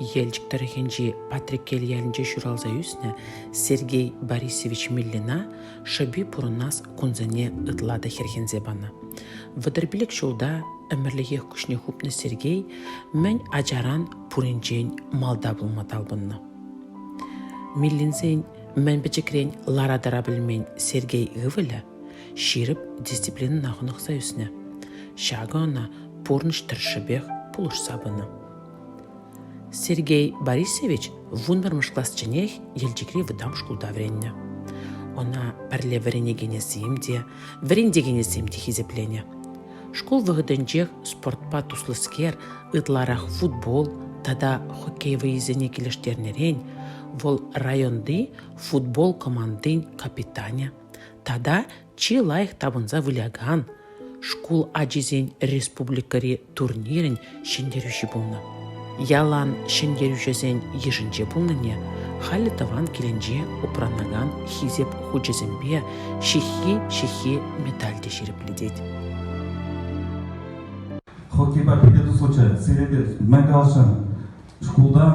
Елчӗк тӑрӑхӗнчи Патреккел ялӗнче ҫуралса ӳснӗ Сергей Борисович Миллина шӑпи пурӑнас кунсене ытла та хӗрхенсе панӑ. Вӑтӑрпилӗк ҫулта ӗмӗрлӗхех куҫне хупнӑ Сергей мӗн ачаран пуринчен малта пулма талпӑннӑ. Миллинсен мӗн пӗчӗкрен лара-тӑра пӗлмен Сергей ывӑлӗ ҫирӗп дисциплинӑна хӑнӑхса ӳснӗ. Ҫакӑ ӑна пурнӑҫ тӗршшӗпех пулӑшса пынӑ. Сергей Борисович вунпӗрмӗш класченех Елчӗкри вӑтам шкулта вӗреннӗ. Ӑна пӗрле вӗренекенӗсем те, вӗрентекенӗсем те хисепленӗ. Шкул вӑхӑтӗнчех спортпа туслӑскер ытларах футбол тата хоккей вӑйисене килӗштернӗрен вӑл районти футбол командин капитанӗ Тата чи лайӑх тапӑнса вылякан шкул ачисен республикӑри турнирӗн ҫӗнтерӳҫи пулнӑ. Ялан ҫӗнтерӳҫӗсен йышӗнче пулнине халӗ тӑван килӗнче упранакан Хисеп хучӗсемпе ҫыххи-ҫыххи медаль те ҫирӗплетет. Хоккейпа пиле тухсӑчӗ сирӗнтен мӗн каласшӑн? Шкултан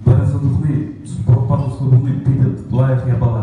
вӗренсе тухни, спортпа туслӑ пулни питӗ лайӑх япала.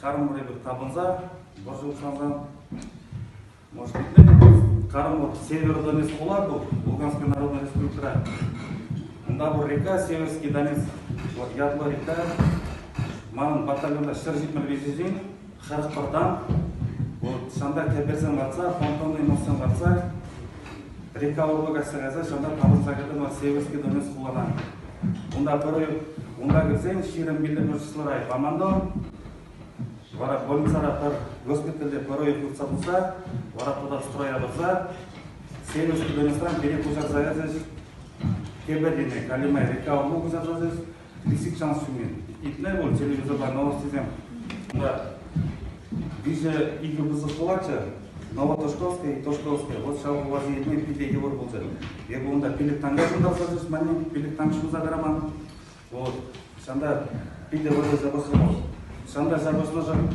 Карӑмӑр эпир тапӑнса, вӑрҫӑ учансан, может быть, Кармут Север Донецк Улату, Луганской Народной Республика. Унта пур река Северский Донецк, вот ятлӑ река. Манӑн батальонта ҫӗр ҫитмӗл виҫесен, шӑрӑхпӑртан, вот ҫанта кӗперсем ватса, фонтанный мӑссем ватса, река урлӑка сӗресе ҫанта тавӑрса кӗтӗм Северский Донецк хулана. Унта пӗрре, унта кӗрсен ҫирӗм миллимӗшслӑра командо, вара больницара пӗр госпитальте пӗр ой туртса пырса, вара туда строя тӑрса, семӗшӗ кӑларнӑран пире куҫарса ячӗҫ. Кепедине, Галиме река умне куҫарсачӗҫ. Лисик шанс ҫумин. Итне пуль телевизорпа новостисем. Унта виҫӗ икӗ пысӑк пулатчӗ. Новотошковский, Тошковский. Вот ҫав пуласси питӗ йывӑр пулчӗ. Эпӗ унта пилӗк-танка ҫунтарса сӳсманни, пилӗк-танк ҫунса тӑраман. Вот. Ҫанта питӗ вӑтӑр запасран. Ҫанта запаснӑшӑн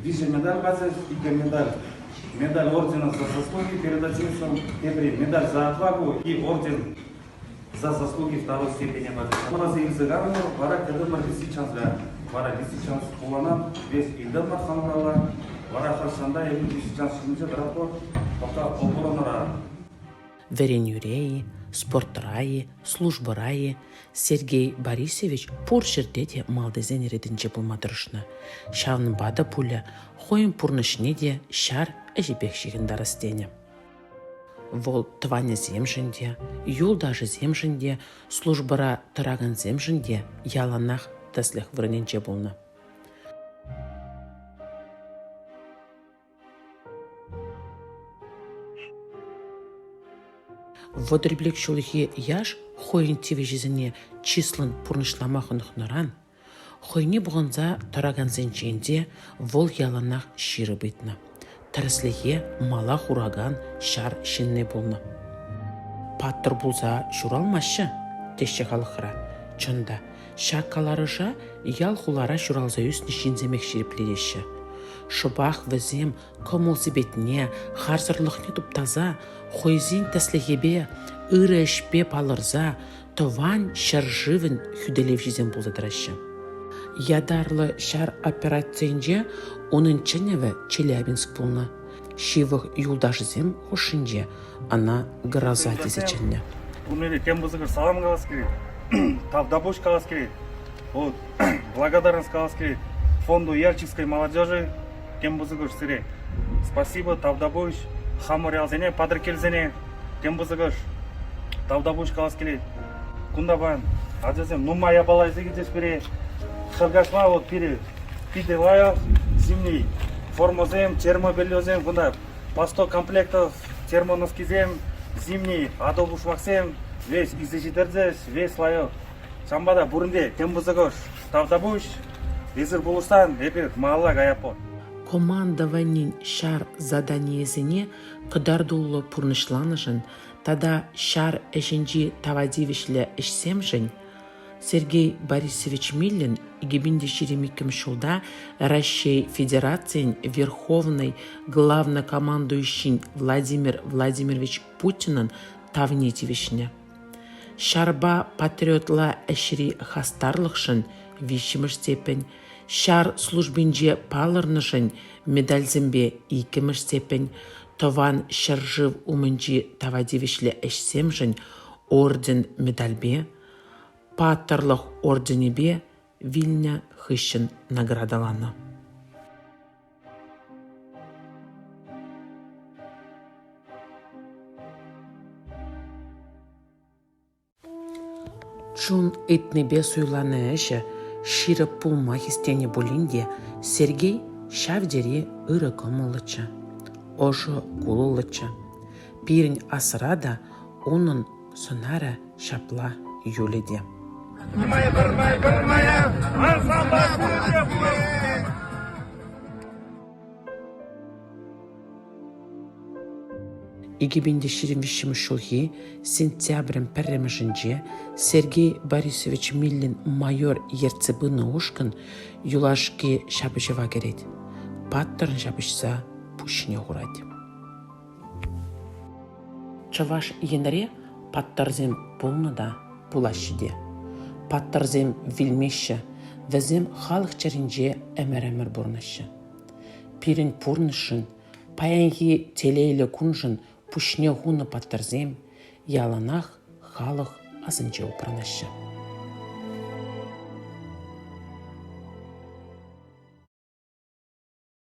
виҫӗ медаль пачӗ, икӗ медаль. Медаль ордена за заслуги передачи ушкӑн, тепри медаль за отвагу и орден за заслуги второй степени пачӗ. Мӑраса илсе кайрӑмӑр, вара кӗтӗмӗр десятчанса. Вара десятчанс куланат весь илтӗмӗр хамӑралла. Вара хӑш ҫанта эпӗ десятчанс ҫумӗнче тӑратпӑр, пока оборонӑра Вӗренӳре-и, спортра-и, службӑра-и Сергей Борисович пур ҫӗрте те малтисен ретӗнче пулма тӑрӑшнӑ. Ҫавӑнпа та пулӗ хӑйӗн пурнӑҫне те ҫар ӗҫӗпех ҫыхӑнтарас тенӗ. Вӑл тӑванӗсемшӗн те, юлташӗсемшӗн те, службӑра тӑракансемшӗн те яланах тӗслӗх вырӑнӗнче пулнӑ. Вӑтӑрпилӗк ҫулхи яш хӑйӗн тивӗҫӗсене чыслӑн пурнӑҫлама хӑнӑхнӑран хӑйне пухӑнса тӑракансенчен те вӑл яланах ҫирӗп ыйтнӑ. Тӗрӗслӗхе мала хуракан ҫар ҫынни пулнӑ. Паттӑр пулса ҫуралмаҫҫӗ, теҫҫӗ халӑхра. Чӑн та, Ҫак каларӑша ял-хулара ҫуралса ӳснӗ ҫынсемех ҫирӗплетеҫҫӗ. Шӑпах вӗсем кӑмӑл-сипетне, харсӑрлӑхне туптаса, хӑйсен тӗслӗхӗпе, ырӑ ӗҫпе палӑрса тӑван ҫӗршывӑн хӳтӗлевҫисем пулса тӑраҫҫӗ. Ятарлӑ ҫар операцийӗнче унӑн чӗнӗвӗ Челябинск пулнӑ. Ҫывӑх юлташӗсем хушшинче ӑна Гроза тесе чӗннӗ. Унри тем пысӑкӑш салам калас килет, тавтапуҫ калас килет, вот, благодарность калас килет фонду Ярческой молодежи тем пысӑкӑш сире. Спасибо, тавтапуҫ хамӑрялсене, патӑркелсене тем пысӑкӑш тавтапуҫ калас килет. Кунта паян ачасем нумай япалайсем килчӗҫ пире. Шӑркашма вот пире питӗ лайӑх зимний формӑсем, термобельесем кунта Пастокомплекта термоноскисем зимний, атӑлпушмаксем веҫ илсе ҫитерчӗҫ, веҫ лайӑх. Ҫавӑнпа та пуринте тем пысӑкӑш тавтапуҫ. Эсир пулӑшсан эпир малалла каятпӑр. Командованин ҫар заданийӗсене кӑтартуллӑ пурнӑҫланӑшӑн тата ҫар ӗҫӗнчи тава тивӗҫлӗ ӗҫсемшӗн Сергей Борисович Миллин 2007 ҫулта Раҫҫей Федерацийӗн Верховнӑй Главнокомандующин Владимир Владимирович Путинӑн тавне тивӗҫнӗ. Ҫарпа патриотла ӗҫри хастарлӑхшӑн виҫҫӗмӗш степень, ҫар службинче палӑрнӑшӑн медальсемпе иккӗмӗш степень, тӑван ҫӗршыв умӗнчи тава тивӗҫлӗ ӗҫсемшӗн орден-медальпе, Паттӑрлӑх орденӗпе вилнӗ хыҫҫӑн наградӑланӑ. Чун ыйтнипе суйланӑ ӗҫӗ ҫирӗп пулма хистенӗ пулин те Сергей ҫав тери ырӑ кӑмӑллӑччӗ, ӑшӑ кулӑллӑччӗ. Пирӗн асра та унӑн Сӑнарӗ ҫапла Юле те. Пӗрмая, пӗрмая, пӗрмая, ансамбль пурӗнех ...2025 ҫулхи сентябрӗн пӗрремӗшӗнче Сергей Борисович Миллин майор ертсе пынӑ ушкӑн юлашки ҫапӑҫӑва кӗрет. Паттӑрӑн ҫапӑҫса пуҫне хурать. Чӑваш Енре паттӑрсем пулнӑ та пулаҫҫӗ те. Паттӑрсем вилмеҫҫӗ, вӗсем халӑх чӗринче ӗмӗр-ӗмӗр пурӑнаҫҫӗ. Пирӗн пурнӑҫшӑн, паянхи телейлӗ куншӑн пуҫне хунӑ паттӑрсем яланах халӑх асӗнче упранаҫҫӗ.